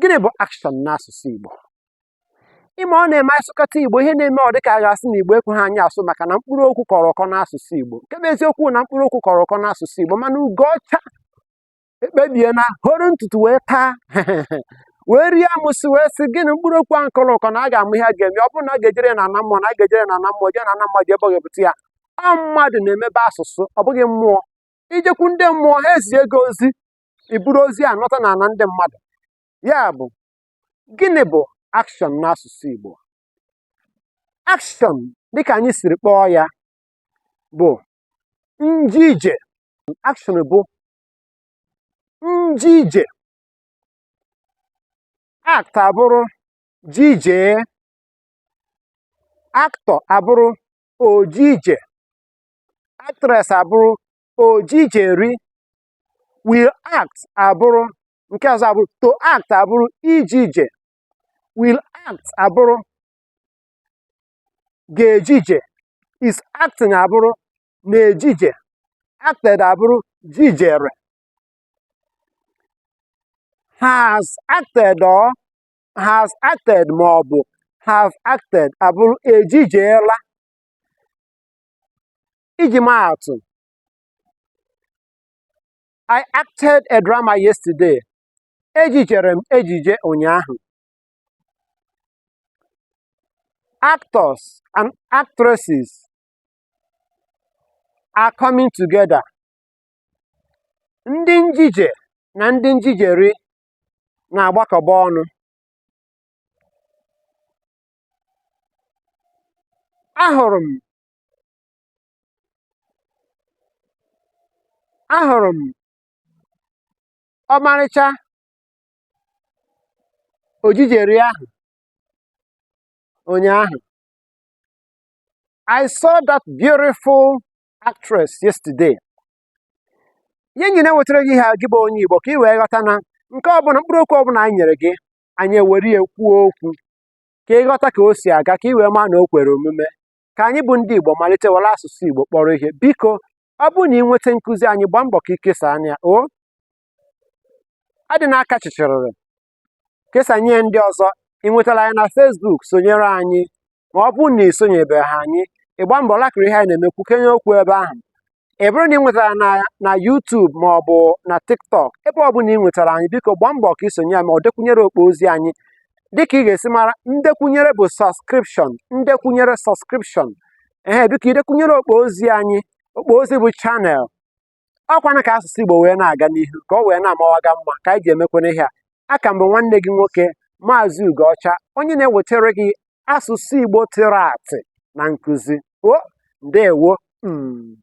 Gịnị bụ action n'asụsụ Igbo? Ịma ọ na-eme a sụkata Igbo, ihe na-eme ọ dịka a ga-asị na Igbo ekweghị anyị asụ maka na mkpụrụ okwu kọrọ ụkọ n'asụsụ Igbo. Nke bụ eziokwu na mkpụrụ okwu kọrọ ụkọ n'asụsụ Igbo mana Ugocha ekpebiela horo ntutu wee taa wee rie amụsị wee sị gị na mkpụrụ okwu ahụ kọrọ ụkọ na a ga-ama ihe a ga-eme ọ bụrụ na a ga-ejere ya n'ana mmụọ na a ga-ejere ya n'ana mmụọ jee n'ana mmadụ jee ebe ọ ga-ebute ya ọ mmadụ na-emebe asụsụ ọ bụghị mmụọ i jekwu ndị mmụọ ha ezie gị ozi i buru ozi a nọta n'ana ndị mmadụ ya bụ gịnị bụ action n'asụsụ Igbo action dịka anyị siri kpọọ ya bụ njije action bụ njije act abụrụ jijee actor abụrụ ojije actress abụrụ ojijeri will act abụrụ nke ọzọ abụrụ to act abụrụ ijije will act abụrụ ga-ejije is acting abụrụ na-ejije acted abụrụ jijere has acted or has acted ma ọ bụ have acted abụrụ ejijeela iji maa atụ I acted a drama yesterday. Ejijere m ejije ụnyaahụ. Actors and actresses are coming together. Ndị njije na ndị njijeri na-agbakọba ọnụ. Ahụrụ m ahụrụ m ọmarịcha ojijeri ahụ ụnyaahụ I saw that beautiful actress yesterday. ihe anyị na-ewetara gị ihe a gị bụ onye Igbo ka ị wee ghọta na nke ọbụla mkpụrụ okwu ọbụla anyị nyere gị anyị ewere ya kwuo okwu ka ị ghọta ka o si aga ka ị wee maa na o kwere omume ka anyị bụ ndị Igbo malite were asụsụ Igbo kpọrọ ihe biko ọ bụrụ na ị nweta nkụzi anyị gbaa mbọ ka i kesaa nya o adịna aka chịchịrịrị kesanye ndị ọzọ ị nwetara anyị na Facebook sonyere anyị ma ọ bụrụ na ị sonyebeghị anyị ị gbaa mbọ lakịrị ihe anyị na-eme kwukenye okwu ebe ahụ ọ bụrụ na ị nwetara anyị na YouTube ma ọ bụ na TikTok ebe ọ bụla ị nwetara anyị biko gbaa mbọ ka i sonye anyị ma ọ dekwunyere okpo ozi anyị dịka ị ga-esi mara ndekwunyere bụ subscription ndekwunyere subscription ee biko idekwunyere okpo ozi anyị okpo ozi bụ channel ọkwana ka asụsụ Igbo wee na-aga n'ihu ka ọ wee na-amawaga mma ka anyị ji emekwana ihe a aka m bụ nwanne gị nwoke maazị Ugoọcha onye na-ewetara gị asụsụ Igbo tịrị atị na nkụzi o ndewo mm.